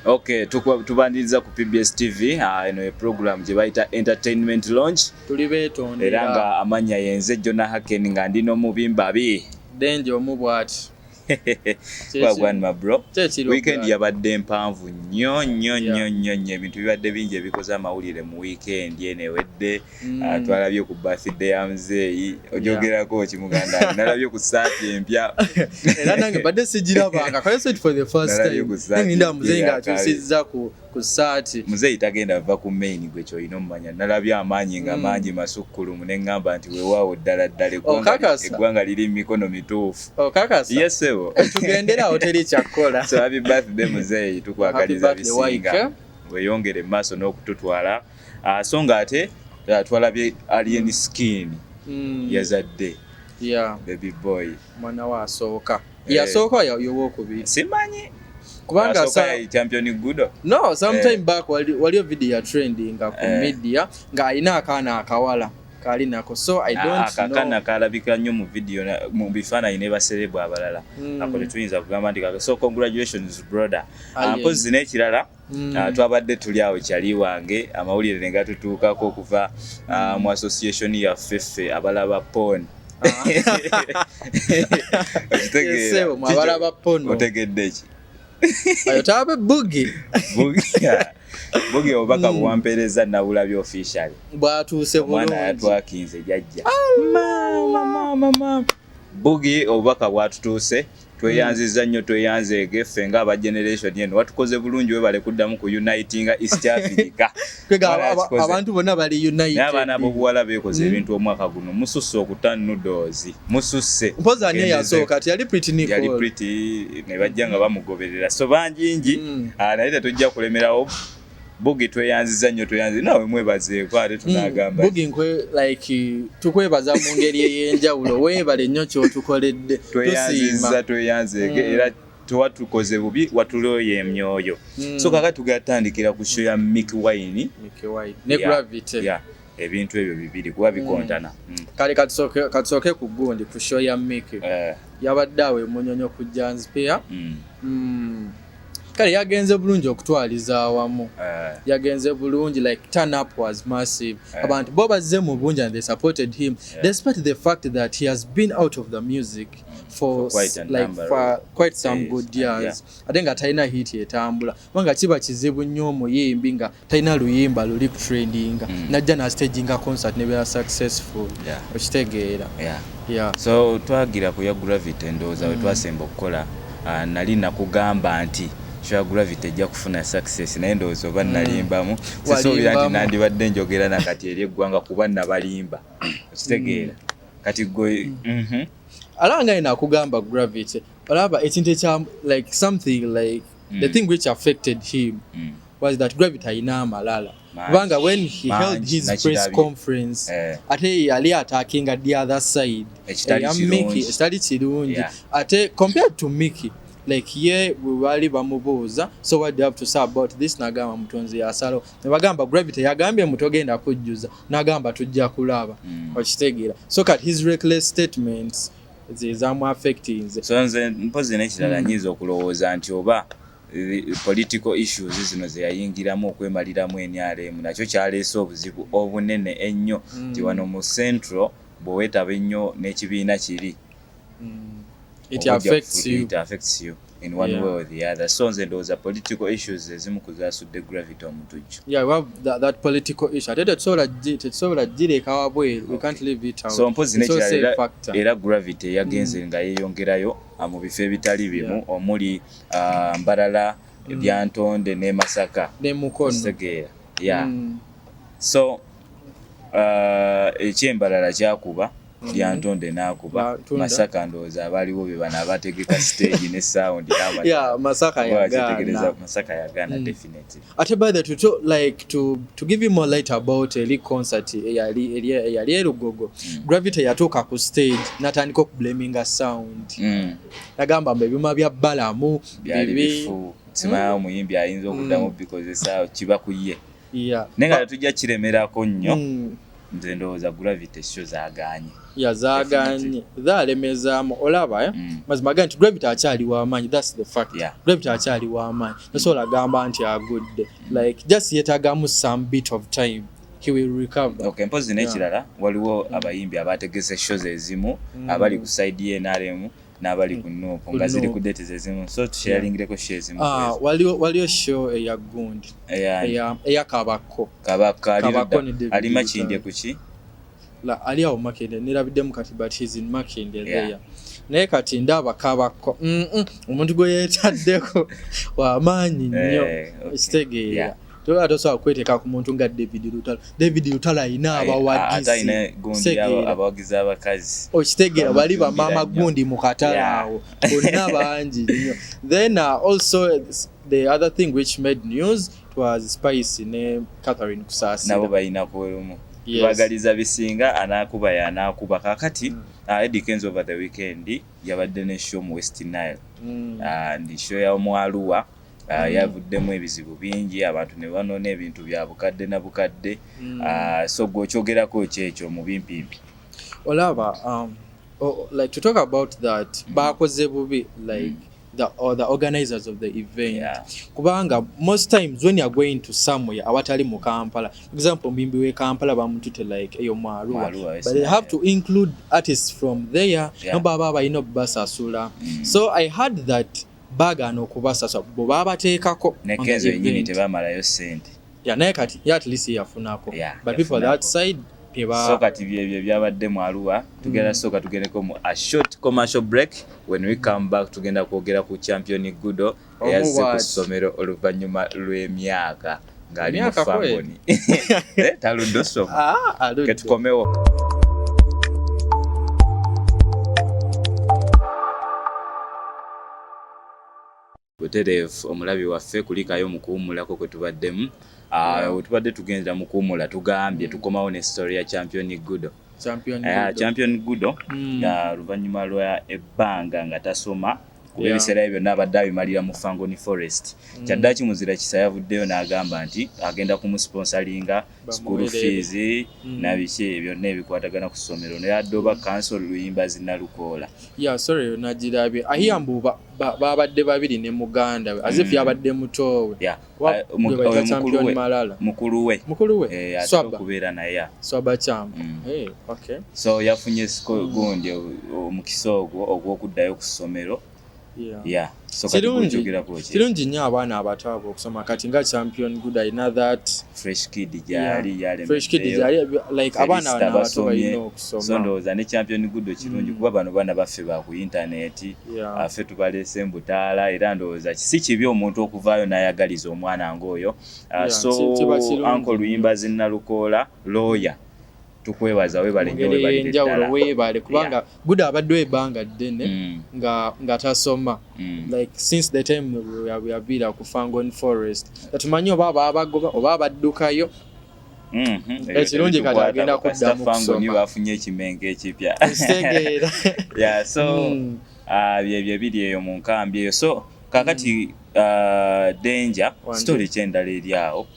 Okay, tubaniriza ku PBS TV ah, eno uh, program gye bayita entertainment launch tuli beetondera era nga amannya yenze Jona Haken nga ndi n'omubimba bi Denje omu bwati wagwan ma bro weekend yabadde mpanvu nnyo nnyo nnyo nnyo nnyo ebintu bibadde bingi ebikoze amawulire mu weekend eno ewedde Mm. Ah, twalabye ku birthday ya muzeeyi ojogerako ki muganda nalabye ku saati empya era nange badde sigirabanga kayosetforthefirsttimninda muzeeyi ngaakyusizza ku saati muzeeyi tagenda va ku main gwe kyolina omumanya nalabye amaanyi nga mm. mangi masukkulumu ne ŋŋamba nti wewaawo ddala ddala eggwanga liri mu mikono mituufu yesebo tugenderawo teri kyakkola so happy birthday muzeeyi tukwagaliza bisinga weyongere mu maaso n'okututwala Ah, so nga ate ah, twalabye alien skin Mm. yazadde Yeah, baby boy mwana we asooka Eh. yasooka ya- yowokubiri simanyi kubanga Asooka sa- yali champion gudo no sometime Eh. back wali- waliyo video ya trendinga ku Eh. media ng'alina akaana akawala kaali nako so i Ah, don't kakana know kalabika nnyo mu video na- mu bifaananyi ne baserebu abalala Mm. ako tetuyinza kugamba nti kaka so congratulations brother Ah, Ah, yeah. mpozzi n'ekirala Mm. Uh, twabadde tuli awo kyali wange amawulire ne gatutuukako okuva uh, mu association yaffe ffe abalaba pon otegedde ki otabe bugi bugi obubaka hmm. buwampeereza nabulabi official bwatuuse omwana yatwakinze jajja ah, bugi obubaka bwatutuuse tweyanziza nnyo tweyanzeege ffe nga aba generation eno watukoze bulungi webale kuddamu ku unitinga east africa abantu bonna bali unite abaana bobuwala bekoze hmm. ebintu omwaka guno mususse okuta nudozi mususse mpozi ani eyasooka ti yali pretty nicol yali pretty ne bajja nga bamugoberera so banjingi hmm. ah, naye tetujja kulemerawo Bugi tweyanziza nnyo tweyanziza nawe mwebazeeko ate hmm, tunagamba Bugi nkwe like tukwebaza mu ngeri ey'enjawulo weebale nnyo ky'otukoledde tweyanziza tweyanzeeke hmm. era tewatukoze bubi watuloyo emyoyo hmm. so kaka tugatandikira ku show ya Mick Wine ne Gravity ebintu ebyo bibiri kuba bikontana kale katusooke ku gundi ku show ya Mick eh. yabadde awo emunyonyo ku Janspia kale yagenze bulungi okutwaliza awamu eh. yagenze bulungi like turn up was massive eh. abantu bo bazze mu bungi and they supported him eh. despite the fact that he has been out of the music for, for quite, like, for quite some days. good years yeah. ate nga talina hit etambula kubanga kiba kizibu nnyo omuyimbi nga talina luyimba luli ku trendinga mm. najja na staging a concert ne bya successful yeah. okitegeera yeah. yeah. so twagira ku ya gravity ndowooza mm. wetwasemba okukola uh, nali nakugamba nti sure gravity ejja kufuna success naye ndowooza oba mm. nalimbamu sisuubira nti nandibadde njogera nakati eri eggwanga kuba nabalimba okitegeera mm. kati gwe mm. mm -hmm. alaba nga nakugamba gravity olaba ekintu ekya like something like mm. the thing which affected him mm. was that gravity alina amalala kubanga when he man, held his press conference eh. ate yali atakinga the other side ekitali kirungi yeah. ate compared to miki like ye bwebaali bamubuuza so what do you have to say about this nagamba mutonzi yasalo nebagamba gravity yagambye mutogenda kujjuza nagamba tujja kulaba mm. okitegeera so kat his reckless statements zezamu affectinze so nze mpozi nekirala mm. nyinza okulowooza nti oba political issues zino zeyayingiramu okwemaliramu nrm nakyo kyaleese obuzibu obunene ennyo mm. nti wano mu central bwewetaba ennyo n'ekibiina kiri mm. it affects you. It affects you. in one yeah. way or the other so nze ndowooza political issues ezimu kuzasudde gravity omutujju yeah, well, that, that political issue ate tetusobola gireeka wabweru so mpozi nekirala era gravity yagenze mm. nga yeyongerayo ah, mu bifo ebitali bimu omuli ah, mbarala mm. ebyantonde ne masaka nemukonotegeera ya mm. so ah, ekyembalala kyakuba mm-hmm. lyantonde nakuba masaka ndowooza abaliwo be bana abategeka stage ne sound masaka yagana mm. definitely ate by the to, like to, to give you more light about eli concert eyali elugogo mm. gravity yatuuka ku stage natandika okublaminga sound mm. nagamba mbu ebyuma bya balamu bibi simaa omuyimbi ayinza okuddamu mm. bikozesa kiba ku ye naye nga tetujja kiremerako nnyo mm. nze ndowooza gravity sho zaganye ya zaganye zalemezamu olaba eh? mm. mazima gani nti gravity akyali wamaanyi thats the fact yeah. gravity akyali wamaanyi mm. nasobola gamba nti agudde mm. like just yetagamu some bit of time Okay, mpozi nekirala yeah. waliwo mm. abayimbi abategese shows ezimu mm. abali ku side ye nrm n'abali ku nuupu nga ziri ku date zezimu so tusharingireko sho ezimu ah, waliyo sho eya gundi eya kabakko kabakko ali makindye kuki ali awo makindye nerabiddemu kati but he's in makindye there naye kati ndaba kabakko omuntu gwe yetaddeko wamaanyi nnyo eh, kitegeera yeah. toba tosobola kweteeka ku muntu nga david lutalo david lutalo alina abawagizi abakazi okitegeera oh, bali bamaama gundi mu katala awo bonna bangi nyo then uh, also the other thing which made news twas spice ne catherine kusasinabo balina kuwerumu bagaliza bisinga anakuba yanakuba kakati mm. uh, Eddie Kenzo over the weekend yabadde ne show mu West Nile mm. uh, ndi show ya omwaluwa Ah, mm. yavuddemu ebizibu bingi abantu ne banoona ebintu bya bukadde na bukadde mm. ah, so gwe okyogerako kyekyo mu bimpimpi olaba um, oh, like to talk about that mm. baakoze bubi like mm. The, or the organizers of the event yeah. kubanga most times when you're going to somewhere awatali mu kampala for example mbimbi we kampala bamutute like eyo mwaruwa but they have to include artists from there yeah. no baba balina obubasasula mm. so i had that baagaana okubasasa bwe baabateekako ne kenzo yennyini tebamalayo ssente ya naye kati ye at least yafunako but people that side so kati byebyo byabadde mu aluwa tugenda mm. sooka tugendeko mu a short commercial break when we come back tugenda kwogera ku champion gudo eyazze ku ssomero oluvannyuma lw'emyaka ng'ali mu famoni eh, taludde osoma ah, ketukomewo butereevu omulabi waffe kulikayo mu kuwummulako kwe tubaddemu ah, we tubadde tugendera mu kuwummula tugambye mm. tukomawo ne story ya champion gudo champion eh, gudo ah, hmm. nga luvannyuma lwa ebbanga nga tasoma kuba ebiseera bye byonna abadde abimalira mu fangoni forest mm. kyaddaki muzira kisa yavuddeyo n'agamba nti agenda kumusponsalinga school fees mm. nabiki ebyonna ebikwatagana ku ssomero neyadde oba kansol luyimba zinalukoola ya sorry nagirabye ahiya mbu babadde babiri ne muganda we azifu mm. yabadde mutoowe mukuluwemukuluweokubeera naye so yafunye gundi omukisa ogwo ogwokuddayo ku ssomero kirungi nnyo abaana abato abo okusoma kati nga champion good alina thatfreshkidgyabalinabato balina okusoma so ndowooza ne champion good kirungi mm. kuba bano baana baffe ba ku intaneti affe tubaleese mbutaala era ndowooza si kibi omuntu okuvaayo n'ayagaliza omwana ng'oyo ah, so anko luyimba zinnalukoola looya tukwebaza webalenjawulo webale kubanga guda abaddewo ebbanga ddene mm. nga tasoma mm. like since the time yabiira ku fangon forest tetumanyi oba ababagoba oba abaddukayo Mm-hmm. ekirungi kati agenda kuddamu kusomabafunye ekimenga ekipya kitegeera ya so mm. ah, byebyo ebiri eyo mu nkambi eyo so kakati mm. ah, danger story kyendala eri awo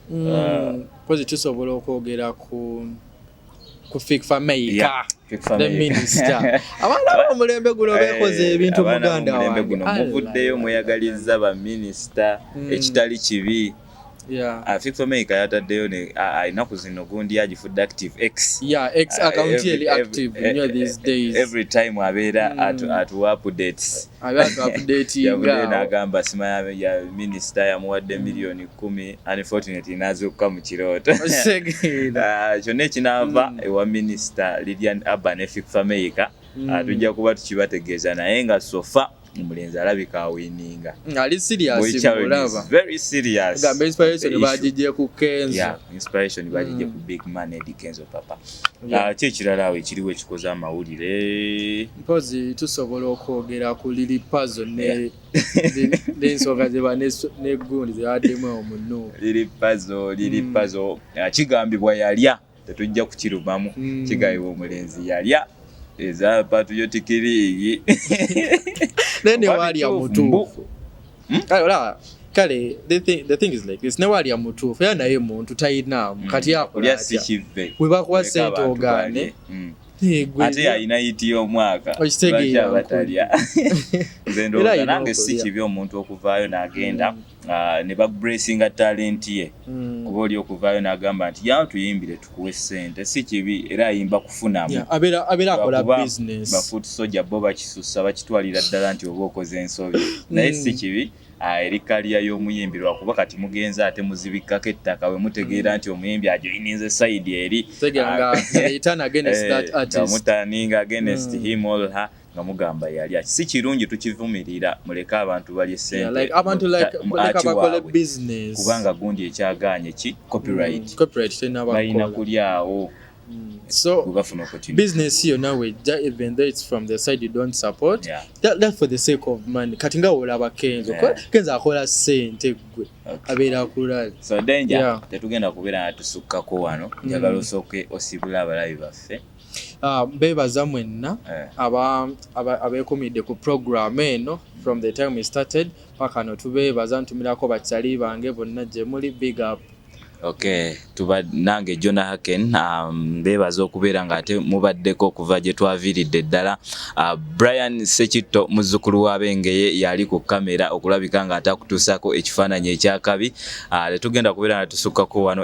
mm. ah. kozi tusobola okwogera ku ku fikfa meika abaana bomulembe guno eh, bekoze ebintu muganda wange muvuddeyo mweyagaliza baminisita ekitali kibi yeah. uh, ah, fixomaker yataddeyo alina ku zino gundi agifudde active x yeah, x ah, account uh, every, active every, nyo these days every time abeera mm. atu, atu updates yabudde nagamba sima ya, ya minister yamuwadde miliyoni kumi unfortunately nazukuka mu kirooto ah, kyonna ekinaava mm. ewa minister lilian urban efixomaker mm. tujja kuba tukibategeeza naye nga sofa so omulenzi alabika awininga ali seriousinspiratbagijje ku kenzoinspiration bagijje ku mm. big man edi kenzo papa ah, ki ekirala awo ekiriwo ekikoze amawulire mpozi tusobola okwogera ku lili pazo nensonga zeba negundi zebaddemu omunuulili pazo lili mm. pazo ah, kigambibwa yalya tetujja kukirumamu mm. kigayiwa omulenzi yalya eza patuyotiki naye newaalya mutuufu hmm? kale olaba kale the thing is like this newaalya mutuufu era naye muntu talinaamu hmm. kati akulya webakuwa sente ogaane hmm. ate yalina yiti y'omwaka lwaki abatalya nze ndowooza nange si kibi omuntu okuvaayo n'agenda Ah, ne bakuburesinga talenti ye hmm. kuba oli okuvaayo n'agamba nti yawo tuyimbire tukuwe sente si kibi era ayimba kufunamubafuti soja bo bakisusa bakitwalira ddala nti oba okoze ensobi naye si hmm. kibi ah, eri kaliya y'omuyimbi lwakuba kati mugenzi ate muzibikkako ettaka we mutegeera hmm. nti omuyimbi ajoyininze sayidi eri ah, eh, mutaninga agenest him olha nga mugamba yalya si kirungi tukivumirira muleke abantu balye sentekubanga gundi ekyaganye ki copyrightbalina mm, kulyawo mm. sobisiness yo nawe even though its from the side you don't support yeah. that, that for the sake of money kati nga wolaba kenzo yeah. kenzo akola sente gwe okay. abeera akulala so danger yeah. tetugenda kubeera natusukkako wano mm. njagala mm. osooke osibula abalabi baffe Ah, bebaza mwenna eh. abekumidde ku program eno from the time we started paka no tubebaza ntumirako bakyali bange bonna gyemuli big up Okay, tuba nange Jonah Haken um, bebaza okubeera nga ate mubaddeko okuva gye twaviiridde ddala uh, Brian Sekitto muzzukulu wa Bengeye yali ku kamera okulabika nga atakutuusako ekifaananyi ekyakabi ah, tetugenda kubeera nga tusukkako wano